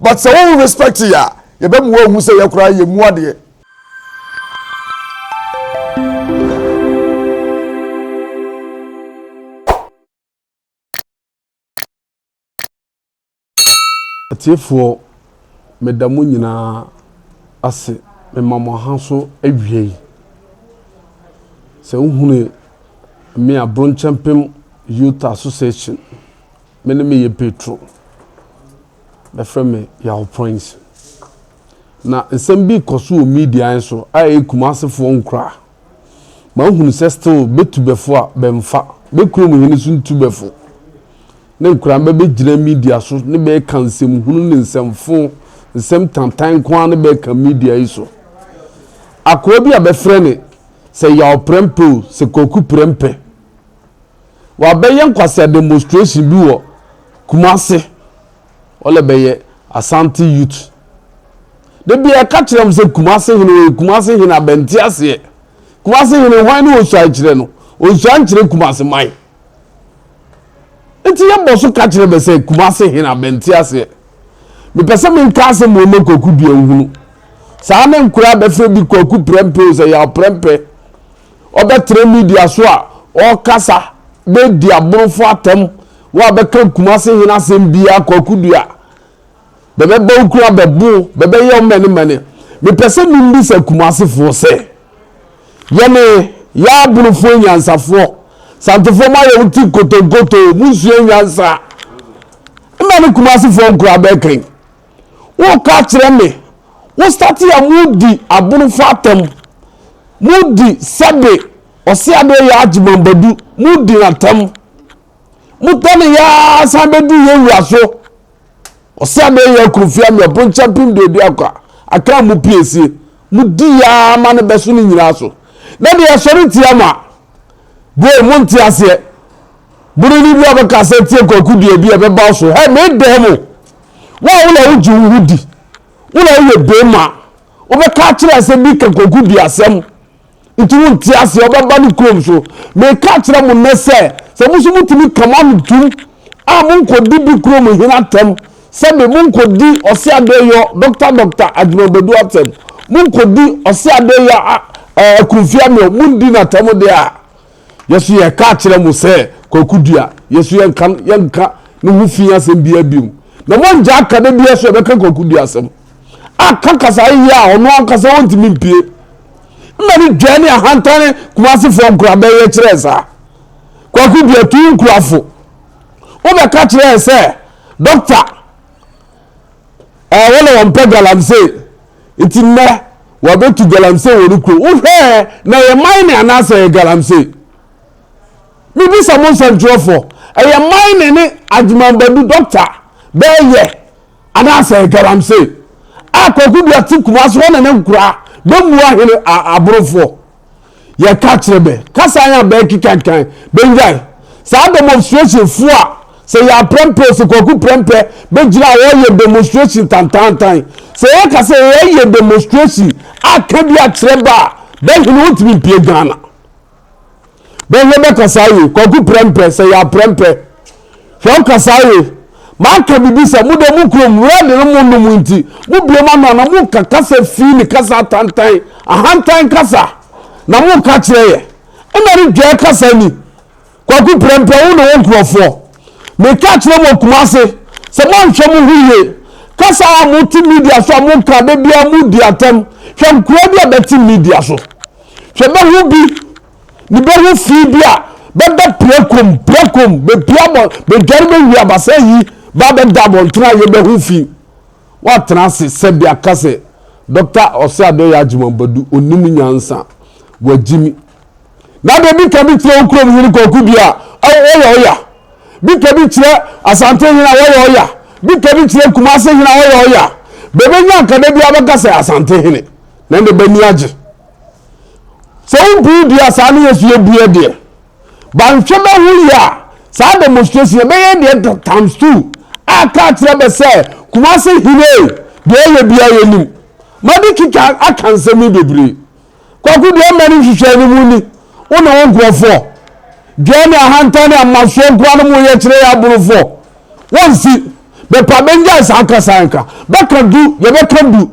But sɛ wo respect yɛ a, yɛbɛ mua hu sɛ yɛ koraa yɛ mua deɛ. Atiefoɔ meda mo nyinaa ase mema mo ha so awiei sɛ wohunu me a bronkyɛmpem youth association Me ne me yɛ Petro. Bɛfrɛ me Yaw Prince. Na nsɛm bi rekɔ so wɔ media yɛn so a ɛyɛ Kumasefoɔ nkuraa. Mahunu sɛ still bɛ tubɛfo a bɛmfa, bɛ kurom hene so ntubɛfo ne nkuraa mba bɛgyina media so ne bɛreka nsɛmhunu ne nsɛmfo, nsɛm tantan nko ara ne bɛreka media yi so. Akoa bi a bɛfrɛ ne sɛ Yaw Prɛmpɛ o, sɛ Kwaku Prɛmpɛ. Wabɛyɛ nkwasea demonstration bi wɔ Kumase ɔlɛ bɛyɛ Asante youth. Da bi a ɛka kyerɛ m sɛ Kumase hene ɔyɛ Kumase hene abɛnte aseɛ. Kumase hene hwan ne ɔsuae kyerɛ no? Ɔnsua nkyerɛ Kumase man. Nti yɛbɔ so ka kyerɛ bɛ sɛ Kumase hene abɛnte aseɛ. Mepɛ sɛ menka asɛm wɔ ma Kwaku Duanhunu. Saa ne nkora bɛfrɛ bi Kwaku Prɛmpɛ o sɛ yɛ aprɛmpɛ. ɔbɛtra media so a ɔrekasa de adi aborɔfo atam, woabɛka Kumase hene asɛm biara, Kwaku Dua, bɛbɛbɔ wo kunu abɛbo wo, bɛbɛyɛ wo mɛnemɛne. Mepɛ sɛ membisa Kumasefoɔ sɛ, yɛne yɛn aborofoɔ nyansafoɔ, Santefoɔ moayɛ wo ti nkotonkoto, monsua nyansa. Mmɛ ne Kumasefoɔ nkoraa bɛɛkɛn. Wokaa kyerɛ me wo starte a mo di abonofo atam mo di sɛbe ɔse adeɛ yɛ agye mambadu mo di no atam mo tɔ ne yaa san bɛdu yɛ wura so ɔse adeɛ yɛ akurofie ame ɔpo nkyɛ pem duadu akwa aka mo piesie mo di yaa ma no bɛso no nyinaa so na deɛ ɛsɔre tia mo a bro mo nte aseɛ boro ne bi a bɛka sɛ tie kwaku deɛ bi a bɛba so hɛ me dɛɛ mo Wo a wo na wogye wo ho di, wo na woyɛ bem a, wobɛka akyerɛ sɛ bi ka kɔku di asɛm nti wonte aseɛ wobɛba ne kurom so. Meka akyerɛ mo nnɛ sɛ sɛ mo nso motumi ka mo ano tum a monkɔdi bi kurom hene atɛm sɛbe monkɔdi ɔse adeyɔ dɔkta dɔkta adwumabadu atɛm monkɔdi ɔse adeyɔ akumfia meo mondi no atɛm deɛ a Yɛso yɛka akyerɛ mo sɛ Kwaku Dua, yɛso yɛnka, yɛnka ne ho fi asɛm biara bio. Na moangyaa ka da biara so ɛbɛka Kwaku Dua asɛm. Aka kasa ayeyɛ a ɔno ankasa ɔntumi mpie. Mma ne dwɛɛ ne ahantan Kumasefoɔ nkorabɛ yɛ kyerɛɛ saa. Kwaku Dua tu nkurafo. Wobɛka kyerɛɛ sɛ, Dɔkta, ɛɛ wɔn na wɔmpɛ galamsey. Ntsi ndɛ wɔabetu galamsey wɔ no kurow. Wohwɛ ɛ, na yɛ mine anaasɛ yɛ galamsey? Mibisa mo nsɛmtwerɛfoɔ, ɛyɛ mine ne Agyeman Badu dɔkta bɛɛ yɛ anaasɛ yɛ galamsey? A Kwaku Duah te Kumasi hɔ na ne nkoraa bɛmua hene aborofoɔ. yɛka kyerɛ bɛ kasa yɛ a bɛɛkekankan bɛngyae saa demonstration fo a sɛ yɛ aprɛmpɛ o sɛ kwaku prɛmpɛ bɛgyina a wɔyɛ demonstration tantantan sɛ yɛka sɛ yɛyɛ demonstration aka bi akyerɛ bɛ a bɛhene wontumi mpie ghana bɛhwɛ bɛkasa yɛ kwaku prɛmpɛ sɛ yɛ aprɛmpɛ Hwɛ wo kasaa ye. Maka biribi sɛ mo deɛ mo kurom red no mo nom nti mo bue mo ano a na mo nka kasa fii ne kasa atantan ahantan kasa na mo nka kyerɛ yɛ ɛna ne dwɛɛ kasa ni kwaku prɛmprɛ wo ne wo nkurɔfoɔ meka kyerɛ mo kumase sɛ mo anhwɛ mo ho yie kasa a mo te media so a mo nka da biara mo di atam hwɛ nkura bi a bɛte media so hwɛ bɛho bi Mebɛhu fii bi a bɛbɛ pirakom pirakom bɛpia bɔ bɛdware bɛhuri abasa yi ba bɛda abɔntene a yɛbɛhu fii watena ase sɛbi aka sɛ Dɔkta Ɔseadɔyɛ Agyeman Badu onim nyansa wagyimi na deɛ bika bi kyerɛ wo kurom hene kɔku bi a ɔyɛ ɔya bika bi kyerɛ Asante hene a wɔyɛ ɔya bika bi kyerɛ Kumase hene a ɔyɛ ɔya bɛbɛnya nkada bi abɛka sɛ Asante hene na ɛnde bɛni agye Sɛ wompue dua a saa na Yesu yɛ bue deɛ, ba nhwɛ bɛho yie a, saa demonstration yɛ bɛyɛ deɛ times two a ka kyerɛ bɛ sɛ Kumase hene deɛ ɔyɛ bia yɛ nim. Madi kika aka nsɛm yi bebree. Kwaku deɛ mma no nhwehwɛ ne mu ni, wo ne wo nkurɔfoɔ. Dwɛɛ ne ahantan ne amasoɔ nkoa no mo yɛ kyerɛ yɛ aborofoɔ. Wɔnsi. Bɛpa bɛngyae saa kasa nka. Bɛka du, yɛbɛka du.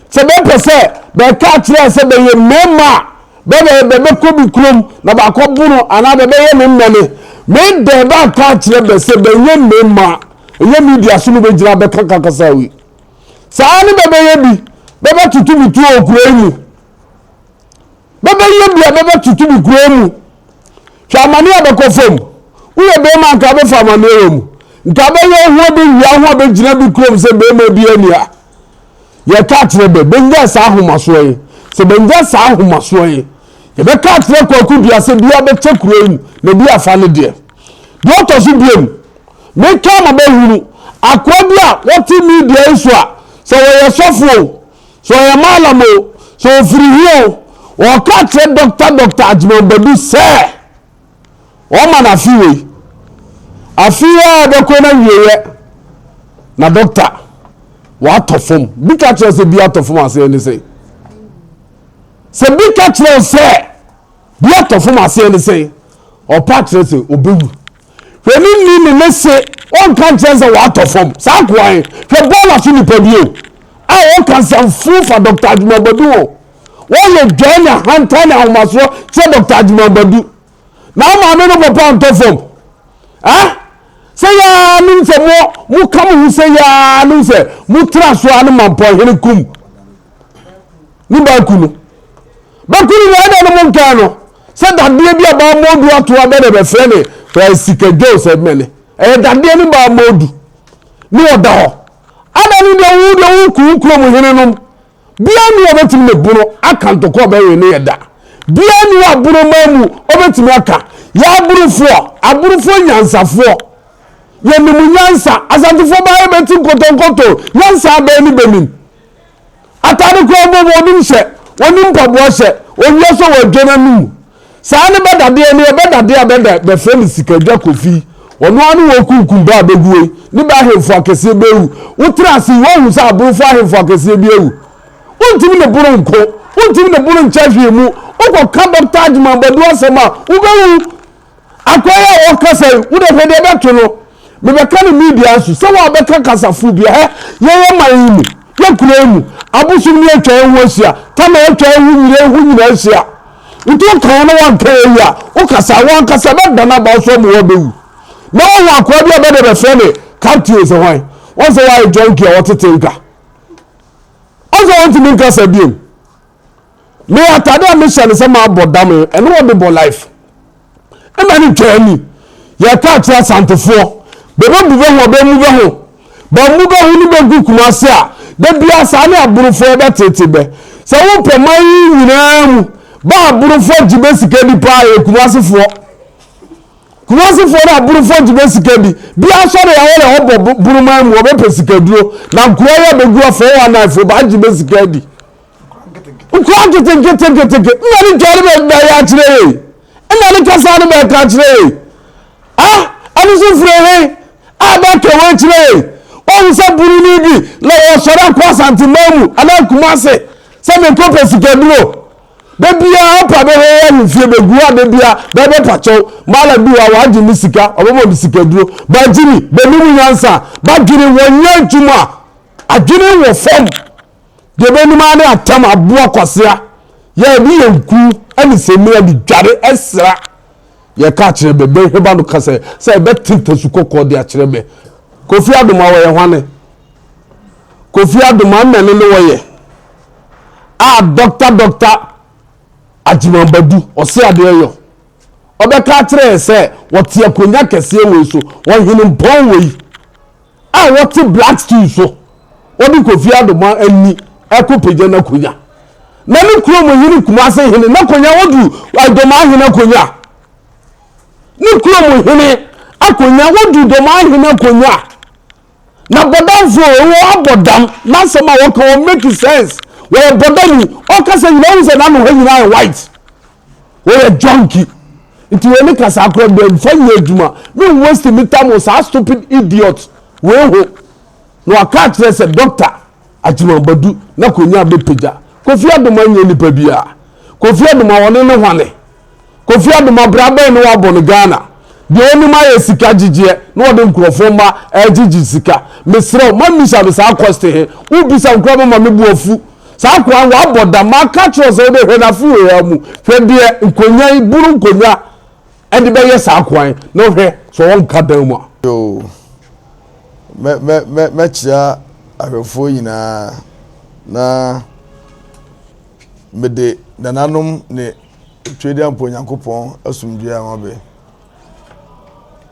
Sɛ bɛpɛ sɛ bɛka akyerɛ sɛ bɛyɛ mmarima a, bɛbɛyɛ dɛ bɛkɔ bi kurom na bɛakɔ bo no anaa bɛbɛyɛ no nnɛne. Me dɛ bɛaka akyerɛ bɛ sɛ bɛnyɛ mmarima a, ɛnyɛ media so no bɛgyina abɛka ka kasa wei. Saa ne bɛbɛyɛ bi, bɛbɛtoto me tuo wɔ kuro yi mu. Bɛbɛyɛ bi a bɛbɛtoto me kurow mu. Hwɛ amane a ɛbɛkɔ fam! Woyɛ barima anka wobɛfa amaneɛ wɔ mu. Nka bɛyɛ wo ho abɛwia ho a bɛgyina bi kurom sɛ barima bi ani a. Yɛka akyerɛ bɛ, bɛnnya saa ahomasoɔ yi. Sɛ bɛnnya saa ahomasoɔ yi, yɛbɛka akyerɛ Kwaku Dua sɛ biaa bɛkyɛ kurow yi mu na bi afa ne deɛ. Deɛ ɔtɔ so biom, meka ama bɛahunu akoa bi a ɔte media yi so a, sɛ ɔyɛ sɔfo o, Sɛ ɔyɛ malam o, sɛ ɔfiri hi o, ɔka kyerɛ Dɔkta Dɔkta Agyemang Badu sɛ ɔma no afe wei. Afe yi a ɔbɛkɔ no awieɛ na dɔkta watɔ fam. Bi ka kyerɛ sɛ bi atɔ fam aseɛ ne sɛn? Sɛ bi ka kyerɛ sɛ bi atɔ fam aseɛ ne sɛn? Ɔpa kyerɛ sɛ ɔbɛwu. Hwɛ ne ni ne ne se wɔnka nkyerɛ sɛ wɔatɔ fam. Saa nkoa he, hwɛ bɔɔl afe nipa bi o. A wɔka nsɛm fuu fa Dɔkta Agyuma Badu ho. Wɔyɛ dwɛɛ ne ahantan ne ahomasoɔ kyerɛ Dɔkta Agyuma Badu. Na wo maame no papa ntɔ fam. Eh? Sɛ yaa nim sɛ mo, mo ka mo ho sɛ yaa nim sɛ mo tra so a ne mampɔn hene kum ne baaku no. Bɛku no na ɛdɛ no mo nkaa no. Sɛ dadeɛ bi a baamodu ato abɛ na bɛfrɛ ne eh, sikadwoo sɛ mɛne ɛyɛ dadeɛ ne baamodu ne ɔda hɔ ada ne deɛ wo deɛ wokuo kurom hene nom biara ni ɔbɛtumi ne bono aka ntɔkɔ ɔbɛwe ne yɛ da biara ni abono maa mu ɔbɛtumi aka yɛ aborofoɔ aborofoɔ nyansafoɔ yɛnim nyansa asantefoɔ baa yɛbɛti nkɔtɔnkɔtɔ nyansa abɛɛ ne bɛnim Atade koraa mpo wɔnim sɛ wɔne mpaboa hyɛ owia sɛ wɔadwa no ano mu. Saa ne bɛ dadeɛ no yɛ, bɛ dadeɛ a bɛda bɛfrɛ no Sikadwa Kofi yi, ɔno ara ne wɔkunkum bɛ a bɛgu hɔ yi, ne bɛ ahemfo akɛseɛ bɛ awu. Wotra ase yi, woahu sɛ aborofo ahemfo akɛseɛ bi awu? Wontumi ne boro nko, wontumi ne boro nkyɛ hwee mu, wokɔka Dɔkta Agyemang Badu asɛm a, wobɛwu. Akwan a wɔkasa yi, wo de hwɛ deɛ ɛbɛto no. Mebɛka no media nso, sɛ wo a bɛka kasa fo bi a, hɛ, yɛn yɛ man yi mu, yɛ kuro yi mu, abosom ni atwa yɛn ho ahyia, Tamale atwa yɛn ho nyina, ɛho nyina ahyia. Nti wo ka yɛn na wanka yɛn yi a, wo kasa, wɔn ankasa bɛdane aba wo so ama wo abɛwu. Na wahu akoa bi a bɛde bɛfrɛ ne Captain sɛ hwan, wɔn sɛ wayɛ junkie a wɔtete nka. Wɔn sɛ wɔntumi nkasa biom. Me atade a mehyɛ ne sɛ mabɔ dam no, ɛno wɔde bɔ life. Ɛna ne ntwa ani. Yɛkɔ akyerɛ asantefoɔ. Bɛbɛbu bɛ ho a, bɛmmu bɛ ho. Bɛmmu bɛ ho ne bɛgu Kumasi a, da biara saa ne aborofoɔ bɛtete bɛ. Sɛ wopɛ man yi nyinaa mu, bɛ aborofoɔ gye bɛ sika di paa yɛ Kumasifoɔ. Kumasifoɔ ne aborofoɔ gye bɛ sika di. Bi asɔre a wɔyɛ hɔ bɔ boroman mu, wɔbɛpɛ sikaduro. Na nkura yi a bɛgu a 419 foɔ, bɛagye bɛ sika di. Nkura nketenketenketeke nna ne dware bɛ bɛyɛ akyerɛ ye nna ne kasa no bɛka akyerɛ ye a ɛno so firi he a bɛka wei kyerɛ ye wɔhu sɛ buroni bi na wɔsɔre akɔ asanteman mu anaa kuma se sɛ mekɔ pɛ sikaduro da biara ɔpa bɛhɛ yɛ ahemfie bɛgu a da biara bɛbɛpa kyɛw mala bi wa wɔagye ne sika ɔbɛbɔ ne sikaduro bagyini bɛnim nyansa badwene wɔnyɛ adwuma adwene wɔ fam Deɛ ɛbɛnum ara ne atam aboa kwasea. Yɛ ɛde yɛ nku ne samina de dware ɛsra. Yɛ ka kyerɛ bɛ, bɛ hwɛba no ka sɛ, sɛ ɛbɛ te tasu kɔkɔɔ de akyerɛ bɛ. Kofi Adoma wɔyɛ hwane? Kofi Adoma mmɛne ne wɔyɛ. A dɔkta dɔkta Agyemambadu ɔse adeɛ yɔ. Ɔbɛka akyerɛ yɛ sɛ wɔte akonya kɛseɛ wei so, ɔhene mpɔn wei. A wɔte Blackstone so, wɔde Kofi Adomaa ani ɛkɔ pagya n'akonya. Na ne kurom hene Kumase hene n'akonya wɔdu Adomaa hene akonya. Ne kurom hene akonya wɔdu Domaa hene akonya. Na bɔdamfo wɔ abɔdam n'asɛm a wɔka wɔ make sense wɔyɛ bɔdani ɔkasa nyinaa ɔhu sɛ n'ano ha nyinaa yɛ white. wɔyɛ junkie nti wɔn ne kasa akora bɛn nfa nyɛ adwuma me n waste me time wɔ saa stupid idiot wei ho na waka akyerɛ sɛ doctor agyima badu na konya bɛpagya kofi adoma nyɛ nipa biara kofi adoma wɔne ne hwane kofi adoma bra bɛn ne wabɔ no ghana deɛ ɔnim ayɛ sika gyegyeɛ na wɔde nkurɔfoɔ mma ɛgyegye sika meserɛ ma mmisa me saa kɔste he wobisa nkora bɛma me boafu Saa akoa no, wabɔ dam. Maka kyerɛ wo sɛ wobɛhwɛ no afe wei ara mu. Hwɛ deɛ nkonnwa yi, buru nkonnwa de bɛyɛ saa akoa yi na wohwɛ sɛ ɔnka dan mu a. Yoo, mɛ, mɛ, mɛ, mɛkyea ahwɛfoɔ nyinaa na mede nananom ne Twediampo Onyankopɔn asomdwoeɛ ama bɛ.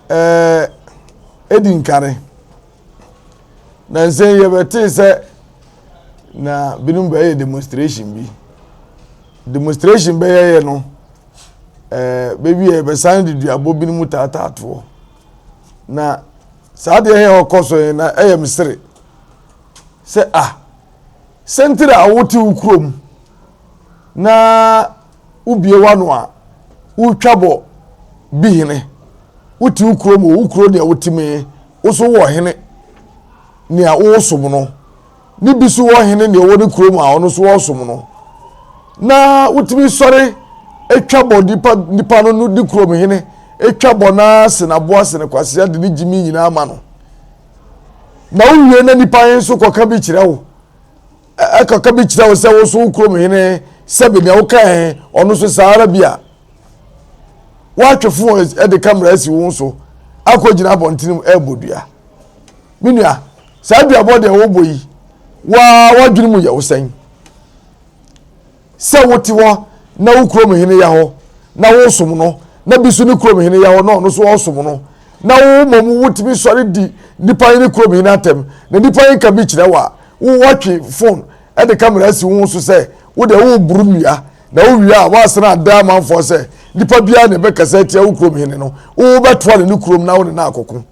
Ɛɛ, edi nkane. Nansa yi yɛbɛtee sɛ na binom bɛyɛ demonstration bi. Demonstration bɛyɛyɛ no, ɛɛ baabi a yɛbɛsan de duabɔ binom taataatoɔ. Na saa deɛ yɛ ɔkɔ so yɛn na ɛyɛ me sere sɛ a ah, sɛntiri a wote wo kurom na wobie wano a wotwa bɔ bi hene wote wo kurom wo kuro deɛ wote mee Wo so wɔ hene nea wosom no, ne bi so wɔ hene nea ɔwɔ ne kurom a ɔno so ɔsom no, na wotumi sɔre twa bɔ nipa nipa no no ne kurom hene twa bɔ na sen aboa sen kwasea de ne gyimi nyinaa ma no na wowie na nipa he nso kɔka bi kyerɛ wo. ɛka ka bi kyerɛ wo sɛ wo nso wo kurom hene sɛbe nea wokae ɔno nso saa ara bi a woatwe fo de kamera asi wo so akɔgyina abɔntene mu ɛrebɔ dua me nua saa duabɔ deɛ wobɔ yi waa woadwene mu yɛ wo sɛn Sɛ wote hɔ na wo kurom hene yɛ hɔ na wosom no, na bi nso ne kurom hene yɛ hɔ na ɔno nso ɔsom no, na wo mmom wotumi sɔre di nnipa he ne kurom hene atɛm, na nnipa he nka bi kyerɛ wo a, wo woatwe fon de kamera asi wo ho so sɛ wo deɛ woreboro nnua, na wowie a woasan ada amanfoɔ sɛ nnipa biaa na ɛbɛkasa atia wo kurom hene no, wo wobɛtoa no ne kurom na wo ne no akɔko.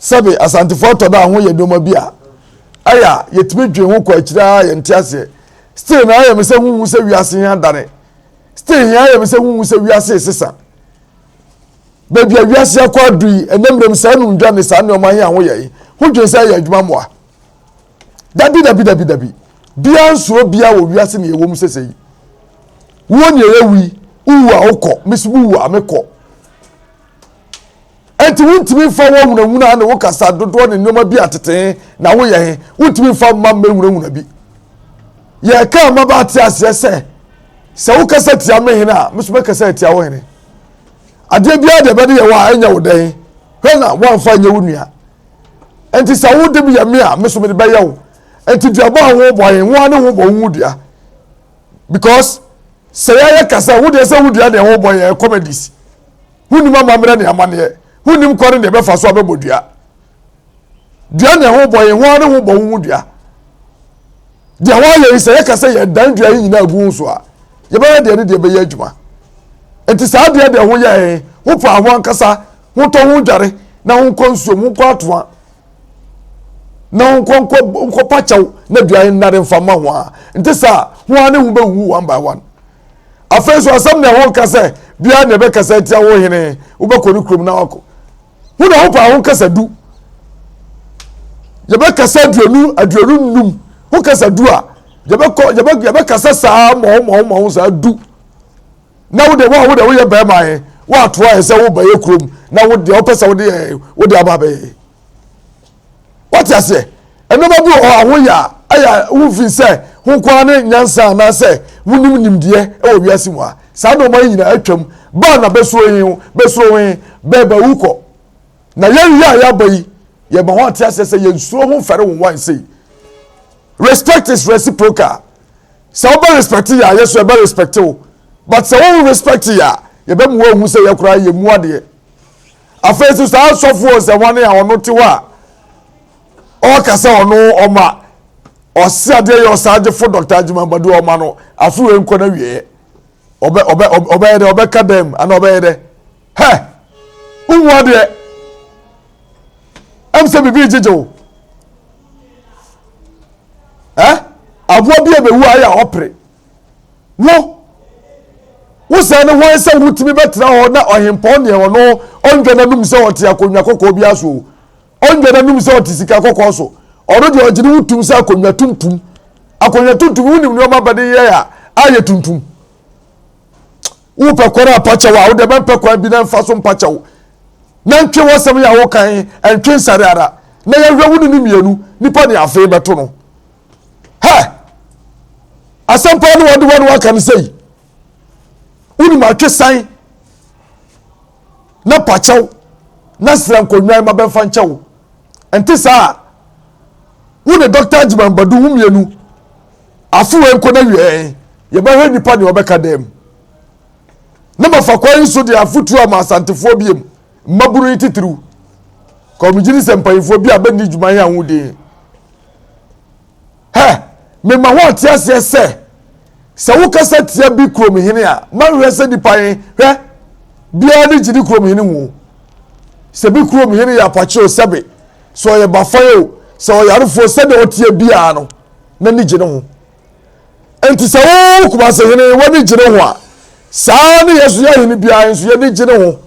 Sɛbe Asantefo atɔ da a ho yɛ nneɛma bi a ɛyɛ a yɛtumi dwen ho kɔ akyiri ara yɛnte aseɛ. Still na ayɛ me sɛ honhu sɛ wiase he adane. Still he ayɛ me sɛ honhu sɛ wiase resesa. Baabi a wiase akɔ adu yi, ɛnɛ mmerɛm saa numdwa ne saa nneɛma he a ho yɛ yi, ho dwen sɛ ɛyɛ adwuma mmoa. Dabi dabi dabi dabi. Biaa nsuro biaa wɔ wiase ne yɛwɔ mu sese yi. Wuo ne ɛyɛ wu yi, wowu a wokɔ, me so mewu a mekɔ. Enti wontumi mfa wo ahunahuna ne wo kasa dodoɔ ne nneɛma bi a tetee na woyɛ he, wontumi mfa mma mmɛhunahuna bi. Yɛka ama ba ate aseɛ sɛ, sɛ wokasa tia me hene a, me nso mɛkasa atia wo hene. Adeɛ biara deɛ ɛbɛde yɛ wo a, ɛnyɛ wo dɛn? Hwɛ na woamfa nyɛ wo nua. Enti sɛ wode yɛ me a, me nso mede bɛyɛ wo. Enti duaba a wobɔ he, ho a ne ho bɔ wo dua. Because sɛ yɛyɛ kasa, wodeɛ sɛ wodua deɛ wobɔ yɛ comedies. honnim amammerɛ ne amanneɛ, honnim kwan ne deɛ ɛbɛfa so abɛbɔ dua. Dua na ɛho bɔ yɛn ho ara ne ho bɔ wo ho dua. Deɛ wɔayɛ yi sɛ yɛka sɛ yɛdan dua yi nyinaa gu ho so a, yɛbɛyɛ deɛ ne deɛ bɛyɛ adwuma. Nti saa deɛ deɛ ho yɛ yɛn, ho paa ho ankasa, ho tɔ ho dware na ho nkɔ nsuom, ho nkɔ atoa na ho nkɔ nkɔ nkɔpa kyɛw na dua yi nnare mfa mma ho a, nte saa, ho ara ne ho bɛwuwu one by one. afei nso asɛm na ɛho nka sɛ biara na ɛbɛkasa atia wo hene wobɛkɔ ne kurom na wakɔ ho na ho paa ho kasa du yɛbɛkasa aduonu aduonu nnum ho kasa du a yɛbɛkɔ yɛbɛ yɛbɛkasa saa mɔho mɔho mɔho saa du na wo de wo a wo de woyɛ bɛrima yɛ woatoa yɛ sɛ wo bɛyɛ kurom na wo deɛ wopɛ sɛ wode yɛ wode aba bɛyɛ wate aseɛ nneɛma bi wɔ hɔ a woyɛ a ɛyɛ a wofiri sɛ ho nkoa ne nyansa anaasɛ wonim nimdeɛ wɔ wiase mu a saa nneɛma yi nyinaa atwam baa na bɛsoro yi bɛsoro yi bɛɛba wu kɔ na yɛn yi a yɛaba yi yɛma ho ate aseɛ sɛ yɛnsuro ho mfɛre wo wan sei respect is reciprocal sɛ wobɛ respect yɛ a yɛ so ɛbɛ respect wo but sɛ wo respect yɛ a yɛbɛmu wɔn hu sɛ yɛkora yɛ mu adeɛ Afei nso saa asɔfo ɔnsɛmmoa no a ɔno te hɔ a ɔka sɛ ɔno ɔma ɔse adeɛ yɛ ɔsagyefo Dr. Agyima Badu ɔma no afe wei nkɔ n'awieɛ ɔbɛ ɔbɛ ɔbɛyɛ dɛ ɔbɛka dɛm ana ɔbɛyɛ dɛ hɛ wohu adeɛ ɛm sɛ biribi gyegye wo ɛ aboa bi a bɛwu ayɛ a ɔpere wo wo sɛ ne hwan sɛ wotumi bɛtena hɔ na ɔhempɔn deɛ ɔno ɔndwa n'anum sɛ ɔte akonnwa kɔkɔɔ bi aso o ɔndwa n'anum sɛ ɔte sika kɔkɔɔ so ɔno deɛ ɔgye ne wotum sɛ akonnwa tuntum akonnwa tuntum wonim nneɛma bɛde yɛ a ayɛ tuntum wopɛ kwan a pakyɛw a wode bɛmpɛ kwan bi na mfa so mpakyɛw na ntwe wɔsɛm yɛ a wokan ntwe nsare ara na yɛhwɛ wo ne ne mmienu nipa ne afei bɛto no hɛ asɛm paa ne wɔde wɔn waka no sɛyi wonim atwesan na pakyɛw na sra nkonnwan ma bɛmfa nkyɛ wo ɛnte saa a wo ne dɔkta agyeman badu wo mmienu afewa nkɔ na wiɛɛ yɛbɛhwɛ nnipa ne ɔbɛka dɛm na mafa kwan yi so de afotuo ama asantefoɔ biem Mmabunu yi titiriw, kɔmgyini sɛ mpanyimfoɔ bi a bɛnni dwuma he anho din. Hɛ! Mema ho ɔte aseɛ sɛ, sɛ wokasa tia bi kurom hene a, manhwɛ sɛ nipa he, hwɛ, biaa ne gyidi kurom hene ho. Sɛ bi kurom hene yɛ apakye o, sɛbe, sɛ ɔyɛ bafan o, sɛ ɔyarefoɔ o, sɛdeɛ ɔteɛ biaa no, n'ani gye ne ho. Enti sɛ wo Kumase hene w'ani gye ne ho a, saa ara ne Yasuo ahene biara nso y'ani gye ne ho.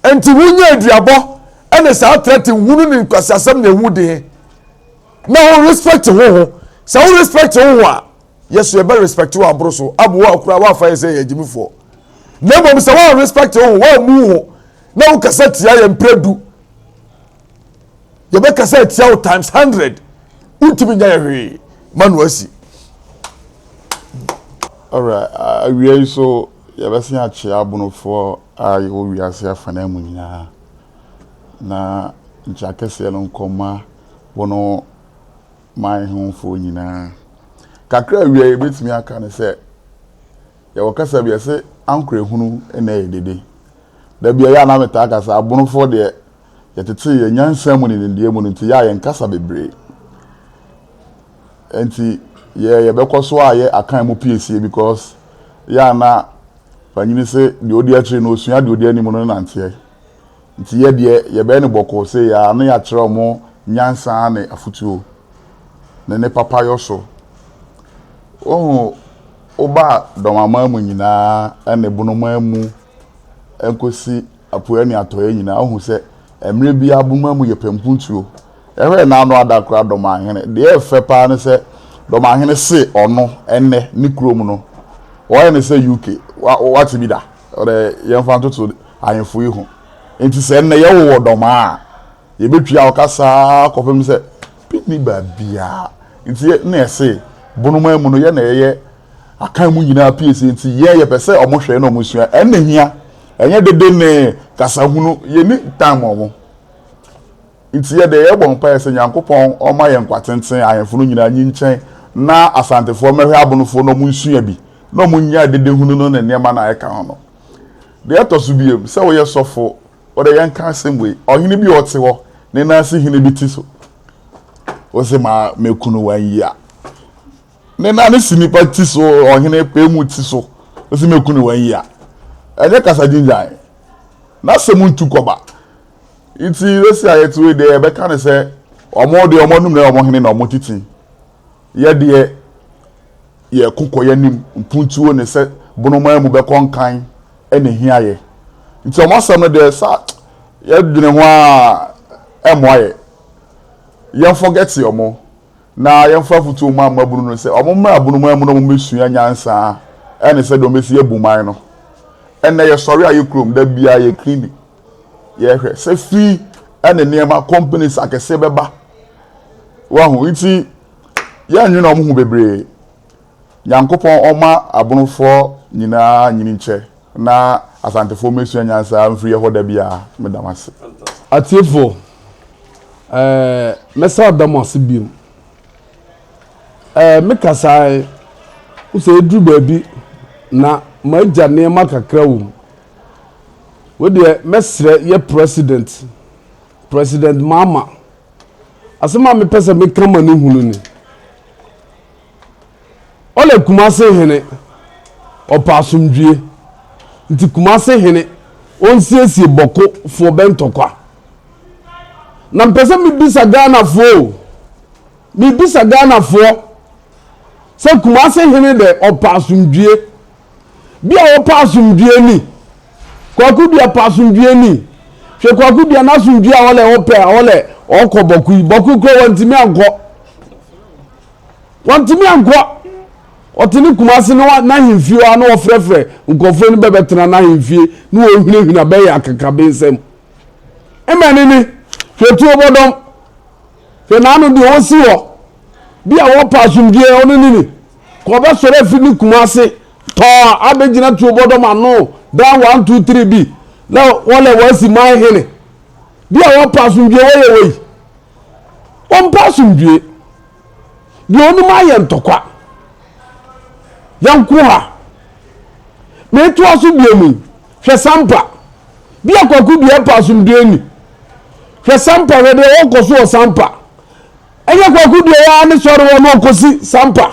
Enti wonya aduabɔ ne saa threat hunu ne nkwasiasɛm na ɛho di he. Na wo respect ho ho. Sɛ wo respect ho ho a, Yasuo ɛbɛ respect wo aboro so abu wo a kura w'afa yɛ sɛ yɛ agyimifoɔ. Na mmom sɛ woan respect ho ho, woammu ho na wo kasa tia yɛ mprɛ du, yɛbɛkasa atia wo times hundred wontumi nya yɛ hwee ma no asi ɔwura awia yi so yɛbɛsen akyea abonofoɔ a yɛwɔ wiase afana mu nyinaa na nkyɛ akɛseɛ no nkɔma bono man hofoɔ nyinaa kakra awia yɛbɛtumi aka ne sɛ yɛwɔ kasa bi ɛse ankorɛ hunu na ɛyɛ dede da bia yɛ a na metaa kasa abonofoɔ deɛ Yɛtetee yɛn nyansa mu ne nimdeɛ mu no nti, yɛ a yɛnkasa bebree. Enti, yɛɛ yɛbɛkɔ so ayɛ akan mu piesie because yɛ a na panyini se deɛ odi akyiri no osua deɛ odi anim no nanteɛ. Nti yɛ deɛ yɛbɛyɛ no bɔkɔɔ sei ara na yɛakyerɛ wɔn nyansa ne afotuo ne ne papayɔ so. Wohu, wobaa dɔm aman mu nyinaa ne bonoman mu kosi apueɛ ne atɔeɛ nyinaa, wohu sɛ mmerɛ biara boma mu yɛ pampuntuo. Ɛhɔ a n'ano ada koraa Dɔmahene. Deɛ ɛyɛ fɛ paa ne sɛ Dɔmahene se ɔno ɛnnɛ ne kurom no wɔyɛ no sɛ UK. Wa, wate bi da? Ɔdɛ yɛmfa ntoto ahemfo yi ho. Nti sɛ nnɛ yɛwowɔ Dɔmaa a, Yɛbɛtwaa ɔkasa ara kɔpem sɛ bɛnni baabiara. Nti yɛ na yɛse bonomaa mu no yɛ na yɛyɛ akan mu nyinaa pie sei nti yɛ yɛpɛ sɛ ɔmo hwɛ na ɔmo sua. Ɛno na ɛhia. Ɛnyɛ dede ne kasahunu. Yɛnni time ma ɔmo. Nti yɛ deɛ yɛbɔ mpaeɛ sɛ Nyankopɔn ɔmma yɛn nkwa tenten, ahemfo no nyinaa nyinkyɛn na Asantefoɔ mmɛhwɛ abonofoɔ na ɔmo nsua bi na ɔmo nnyae dedehunu no ne nneɛma no a ɛka ho no. Deɛ ɛtɔ so biom, sɛ woyɛ sɔfo Wo de yɛnka asɛm wei, ɔhene bi a ɔte hɔ, ne nan si hene bi ti so. Wose ma mekunu wanyi a, ne nan si nipa ti so, ɔhene pɛ mu ti so. Wose mekunu wanyi a, ɛnyɛ kasa gyingyan, n'asɛm ntu kɔba. Nti sɛsi a yɛte wei deɛ yɛbɛka ne sɛ wɔn deɛ wɔn anum na wɔn hene na wɔn titi. Yɛ deɛ yɛ ko kɔ yɛ nim mpuntuo ne sɛ bonomaa mu bɛ kɔ nkan na ehia yɛ nti ɔmo asɛm no deɛ sa yɛ dwene ho aa ɛmoa yɛ yɛn fɔgɛte ɔmo na yɛn fa afutuo mma mmabunu no sɛ ɔmo mmra bonomaa mu na ɔmo mmɛ sua nyansaa ɛne sɛdeɛ ɔmo bɛsi abu man no ɛnɛ yɛ sɔre a yɛ kurom da biaa yɛ cleaning yɛ hwɛ sɛ fii ɛne nneɛma companies akɛseɛ bɛba. Wahu nti yɛnnwene wɔn ho bebree. Nyankopɔn ɔma abonofoɔ nyinaa nyinikyɛ na asantefoɔ mesua nyansa mfiri yɛhɔ da biara. Meda mo ase. Atiefoɔ, ɛɛ mɛsa da mo ase biom. Ɛɛ me kasaɛ, wo sɛ eduru baabi na m'agya nneɛma kakra wɔ mu. Wei deɛ mɛsrɛ yɛ President. President Mahama, asɛm a mepɛ sɛ meka ma no hunu ni. Ɔlɛ Kumase hene, ɔpɛ asomdwie. Nti Kumase hene, ɔnsiesie bɔko foɔ bɛ ntɔkwa. Na mpɛ sɛ mebisa Ghana foɔ o, mebisa Ghana foɔ sɛ Kumase hene dɛ ɔpɛ asomdwie, Bi a wɔpɛ asomdwoeɛ ni. Kwaku dua pɛ asomdwoeɛ ni. Hwɛ kwaku dua n'asomdwoeɛ a ɔlɛ ɔpɛ a ɔlɛ ɔkɔ bɔko yi. Bɔko kura wɔntumi ankɔ. Wɔntumi ankɔ. Ɔte ne kuma ase na n'ahemfie hɔ a na wɔfrɛfrɛ nkurɔfoɔ no bɛbɛtena n'ahemfie na wɔhunahuna bɛyɛ akakabensɛm. Mmɛne ne hwɛ tuo bɔdɔm. Hwɛ n'ano deɛ ɔsi hɔ, bi a wɔpɛ asomdwoeɛ, ɔno ne ni, ka ɔbɛsɔre afiri ne kuma ase tɔɔ abɛgyina tuobɔdɔm ano, dan one two three bi, na wɔlɛ wɔasi man hene, bi a wɔpɛ asomdwoeɛ, wɔyɛ wei, wɔmpɛ asomdwoeɛ, deɛ ɔnom ayɛ ntɔkwa, yɛnko ha, metoa so bio mu yi. Hwɛ Sampa! Bia Kwaku deɛ ɛpɛ asomdwoeɛ ni. Hwɛ Sampa! Hwɛ deɛ ɔrekɔ so wɔ Sampa! Ɛnyɛ Kwaku deɛ ɔyɛ ne sɔre wɔ na ɔkɔsi Sampa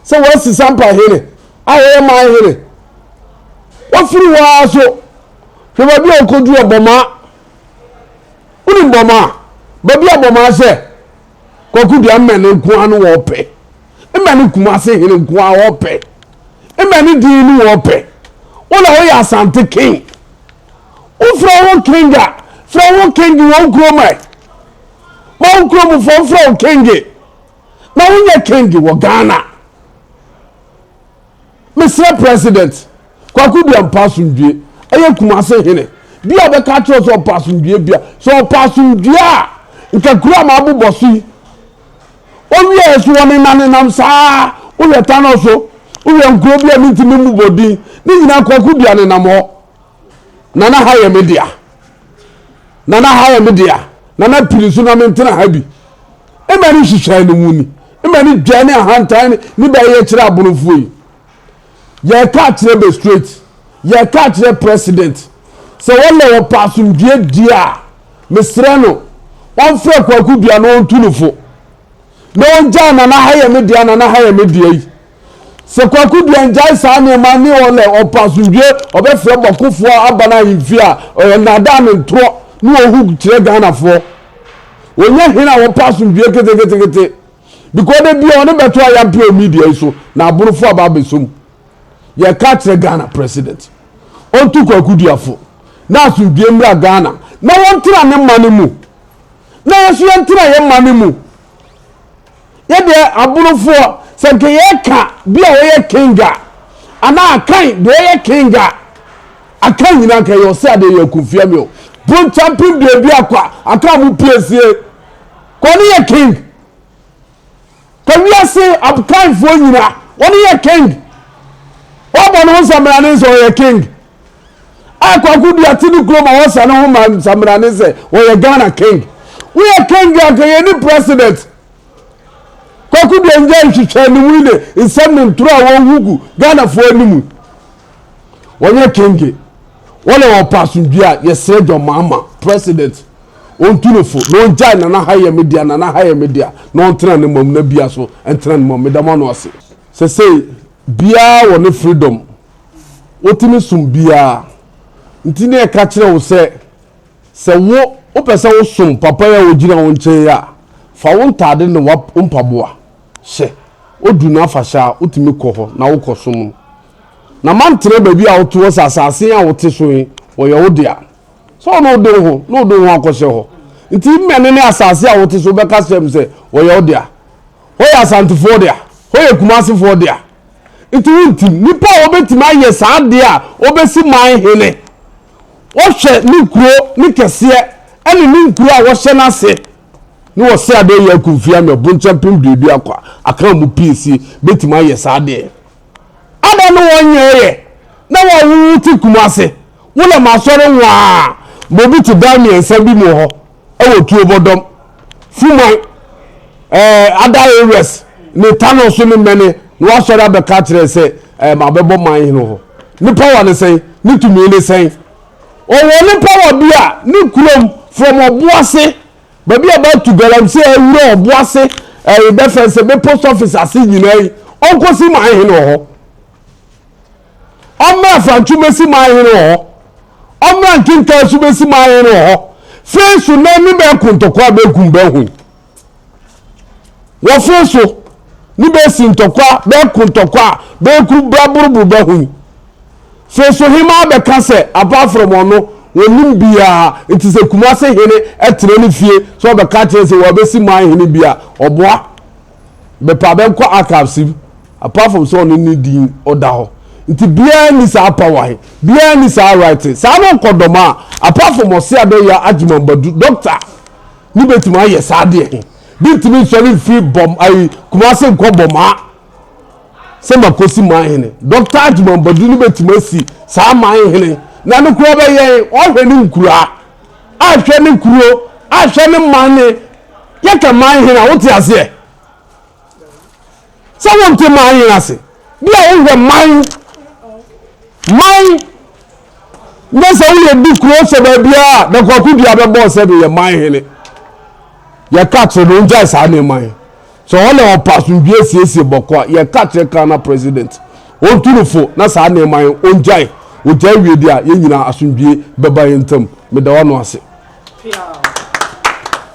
sɛ wɔasi Sampa hene a ɔyɛ man hene. Wafiri hɔ ara so hwɛ baabi a ɔkɔduru Abɔmaa. Wonim Bɔmaa? Baabi a Bɔmaa hyɛ. Kwaku deɛ mmɛne nko ara no wɔpɛ. Mmɛne Kumase hene nko ara wɔpɛ. Mmɛne din no wɔpɛ. Wo na woyɛ Asante king. Wofrɛ wo king a, frɛ wo king wɔ wo kurom ɛ. Ma wo kuromfoɔ mfrɛ wo king. Na wonyɛ king wɔ Ghana. Mesrɛ President Kwaku Duah mpa asomdwie. Ɛyɛ Kumasi hene bi a ɔbɛka akyerɛ wo sɛ ɔpɛ asomdwie bi a, sɛ ɔpɛ asomdwie a, nka kuro a mabobɔ so yi, ɔwie a so wɔnenanenam saa ara, wohwɛ Tano so, wohwɛ nkuro bi a mentumi mmobɔ din ne nyinaa, Kwaku Duah nenam hɔ. Nana ha yɛ me dea. Nana ha yɛ me dea. Nana piri nso na mentena ha bi. Mma ne nhyehyɛe no mu ni. Mma ne dwa ne ahantan ne ne bɛyɛ kyerɛ aborofoɔ yi. Yɛreka akyerɛ bɛ straight. Yɛreka akyerɛ president. Sɛ wɔlɛ wɔpɛ asomdwoeɛ die a, mesrɛ no, wɔmfrɛ Kwaku Dua na wɔntu no fo. Na wɔngyae Nana ha yɛ me dea, Nana ha yɛ me dea yi. Sɛ Kwaku Duah gyae saa nneɛma ne ɔlɛ ɔpɛ asomdwoe, ɔbɛfrɛ bɔkofoɔ aba no ahemfie a, ɔyɛ nnaadaa ne ntorɔ ne ɔhug kyerɛ Ghanafoɔ. Ɔnyɛ hene a wɔpɛ asomdwoe keteketekete because da biara ɔne bɛto ayampe wɔ media yi so na aborofoɔ aba abɛsɔ mu. Yɛka kyerɛ Ghana President, ɔntu Kwaku Duah fo na asomdwoe mmra Ghana na wɔntena ne mane mu na yɛn nso yɛntena yɛn mane mu. Yɛ deɛ aborofoɔ sɛ nka yɛka bi a ɔyɛ king a anaa akan deɛ ɔyɛ king a akan nyinaa nka yɛ ɔsɛ adeɛ yɛ akufia mi o ponta mpem deɛ bi akɔ a akan mo pie sie ka ɔne yɛ king ka wiase akanfoɔ nyinaa ɔne yɛ king wɔbɔ ne ho sɛ mmara ne sɛ ɔyɛ king a Kwaku Duah te ne kurom a wɔsa ne ho ma nsaminane sɛ ɔyɛ Ghana King. Woyɛ King a anka yɛnni President. Kwaku Duah nnyae nhwehwɛanimu ne nsɛm ne ntoro a wɔhu gu Ghanafoɔ anim. Wɔnyɛ King. Wɔle wɔpɛ asomdwie a, yɛsrɛ John Mahama, President, ɔntu no fo na ɔngyae Nana ha yɛ me dea, Nana ha yɛ me dea na ɔntena ne mom na bia so ntena ne mom. Meda mo ano ase. Sɛsei biaa wɔ ne freedom. wotumi som biara. Nti ne ɛka kyerɛ wo sɛ, sɛ wo wopɛ sɛ wosom papa yi a ogyina wo nkyɛn yi a, fa wo ntade ne wo mpaboa hyɛ. Odu n'afahyɛ a, wotumi kɔ hɔ na wokɔsom no. Na mantena baabi a wote hɔ sɛ asase a wote so yi, wɔyɛ wo dea. Sɛ wo na wode wo ho na wode wo ho akɔhyɛ hɔ. Nti mmɛne ne asase a wote so wobɛka kyerɛ me sɛ wɔyɛ wo dea. Hɔ yɛ Asantefoɔ dea, hɔ yɛ Kumasefoɔ dea. Nti wontim. Nnipa a wɔbɛtumi ayɛ saa adeɛ a wɔbɛsi man hene, wɔhwɛ ne kuro ne kɛseɛ ɛne ne nkuro a wɔhyɛ no ase, ne wɔsɛ adeɛ yɛ akumfia mɛ bonkyɛ pem duadu akwa akan mu pii si bɛtumi ayɛ saa adeɛ. Ada ne wɔn nyɛ yɛ na wɔn wo te Kumase, wo lɛ masɔre nwaa ma obi te dan mmiɛnsa bi mu hɔ. Ɛwɔ Tuobɔdɔm, Fumai, ɛɛ other areas ne Tano so ne many na wasɔre abɛka akyerɛ sɛ ɛɛ mabɛbɔ man hene hɔ. Ne power ne sɛn? Ne tumi ne sɛn? Ɔwɔ ne power bi a ne kurom from Ɔboase baabi a bɛato galamsey awura Ɔboase ɛɛ bɛfɛn sɛ bɛ post office ase nyinaa yi ɔnkɔsi man hene wɔ hɔ. Ɔmmra Afantwo mɛsi man hene wɔ hɔ Ɔmmra Nkentaa nso mɛsi man hene wɔ hɔ Fei so na ne bɛ nkontɔkwa bɛ kum bɛ ho yi Wɔ fei so ne bɛ si ntɔkwa bɛ nkontɔkwa bɛ ku bra boroboro bɛ ho yi Fei so hemaa bɛ ka sɛ apart from ɔno wɔnim biaa nti sɛ Kumase hene tena ne fie sɛ ɔbɛka kyerɛ sɛ wɔabɛsi man hene bi a ɔboa bɛpa bɛnkɔ archives mu apart from sɛ ɔne ne din ɔda hɔ nti biara ni saa power he biara ni saa right saa no nkɔ dɔm a apart from ɔse adɔ yɛ agyimambadu doctor ne bɛtumi ayɛ saa deɛ he bi ntumi nsɔre mfiri bɔm ayi kumase nkɔ bɔm a sɛ makosi man hene doctor agyimambadu ne bɛtumi asi saa man hene na no kura bɛyɛ ɔhwɛ ne nkura ahwɛ ne kuro ahwɛ ne man ne Yɛka man hene a, wote aseɛ? Sɛ wonte man hene ase, bi a wohwɛ man, man, na sɛ woyɛ di kuro sɛ baabiara a, na kwaku dua bɛbɔ sɛ no yɛ man hene. Yɛka kyerɛ no, ongyae saa nneɛma yi. Sɛ ɔne ɔpa asomdwie siesie bɔkɔ a, yɛka kyerɛ Ghana president, ontu no fo na saa nneɛma yi ongyae. Ogyae wie deɛ a, yɛn nyinaa asomdwie bɛba yɛn ntam. Meda w'ano ase.